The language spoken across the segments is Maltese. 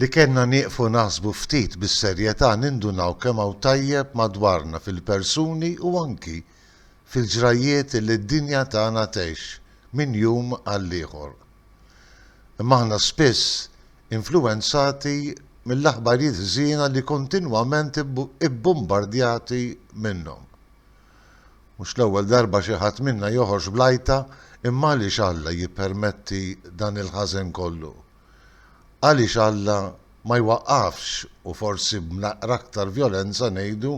Li kellna nieqfu naħsbu ftit bis-serjetà nindunaw kemm hawn tajjeb madwarna fil-persuni u anki fil-ġrajjiet li d-dinja tagħna tgħix minn jum għall-ieħor. Imma aħna spiss influwenzati mill-aħbarijiet ħżiena li kontinwament ibbumbardjati minnhom. Mhux l-ewwel darba xi ħadd minna joħorġ bl-għajta, imma għaliex Alla jippermetti dan il-ħażen kollu? Għaliex Alla ma jwaqqafx u forsi b'naqra aktar vjolenza ngħidu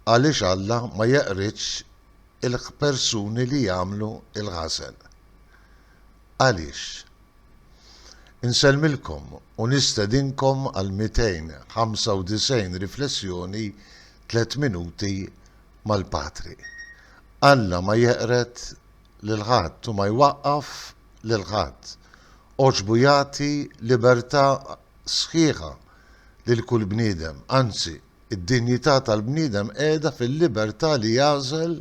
għaliex Alla ma jeqridx il-ħpersuni li jagħmlu l-ħażen? Għaliex? Insellmilkom u nistedinkom għal 295 riflessjoni tliet minuti mal-Patri. Alla ma jeqred lil ħadd u ma jwaqqaf lil ħadd. Għoġbu jagħti libertà sħiħa lil kull bniedem, anzi, id-dinjità tal-bniedem qiegħda fil-libertà li jagħżel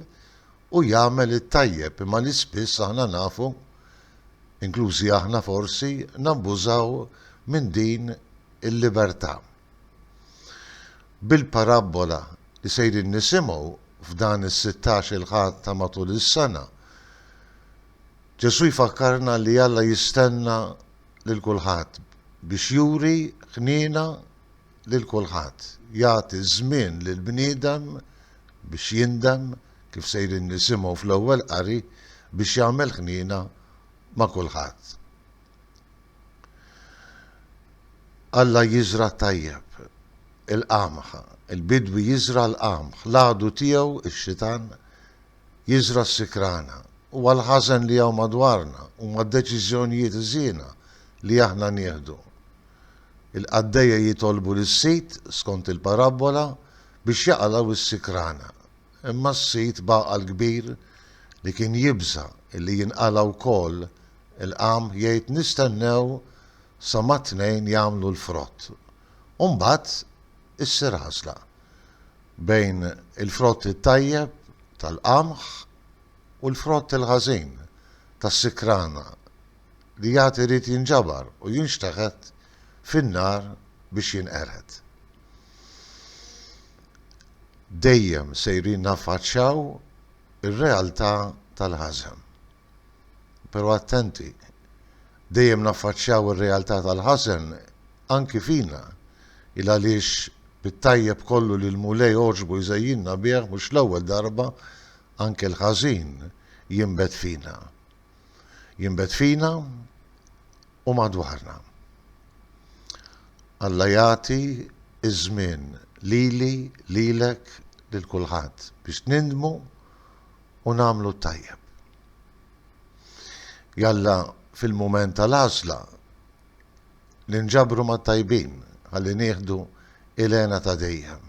u jagħmel it-tajjeb imma li spiss aħna nafu, inklużi aħna forsi, nabbużaw minn din il-libertà. Bil-parabbola li sejrin nisimgħu f'dan is-sittax-il Ħadd ta' matul is-sena, Ġesù jfakkarna li Alla jistenna lil kulħadd biex juri ħniena lil kulħadd, jagħti żmien lill-bniedem biex jindem, kif sejrin nisimgħu fl-ewwel qari, biex jagħmel ħniena ma' kulħadd. Alla jiżra' t-tajjeb, il-qamħ, il-bidwi jiżra' l-qamħ, l-għadu tiegħu, ix-xitan, jiżra' s-sikrana. Huwa l-ħażen li hawn madwarna, huma d-deċiżjonijiet ħżiena li aħna nieħdu. Il-qaddejja jitolbu lis-sid, skont il-parabbola, biex jaqalgħu s-sikrana. Imma s-sid b'għaqal kbir, li kien jibża' illi jinqala' wkoll, il-qam jgħid nistennew sa mat-tnejn jagħmlu l-frott u mbagħad issir għażla bejn il-frott it-tajjeb tal-qamħ u l-frott il-ħażin tas-sikrana li għad irid jinġabar u jinxteħet fin-nar biex jinqered. dejjem sejrin naffaċċjaw ir-realtà tal-ħażen. Però attenti, dejjem naffaċċjaw ir-realtà tal-ħażen anki fina, il-għaliex bit-tajjeb kollu li l-Mulej għoġbu jżejjinna bih mhux l-ewwel darba anke l-ħażin jinbet fina. jinbet fina u madwarna. Alla jagħti ż-żmien lili, lilek, lil kulħadd biex nindmu u nagħmlu t-tajjeb. Jalla fil-mument tal-għażla ninġabru mat-tajbin ħalli nieħdu il-hena ta' dejjem.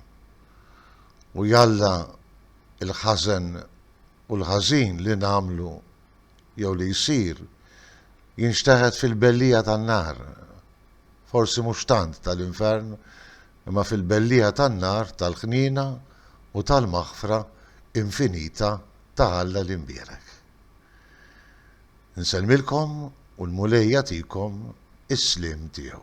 U jalla il-ħażen u l-ħażin li nagħmlu jew li jsir jinxteħet fil-belliegħa tan-nar, forsi mhux tant tal-infern, imma fil-belliegħa tan-nar tal-ħniena u tal-maħfra infinita ta' Alla l-Imbierek. Insellmilkom u l-Mulej jagħtikom is-sliem tiegħu.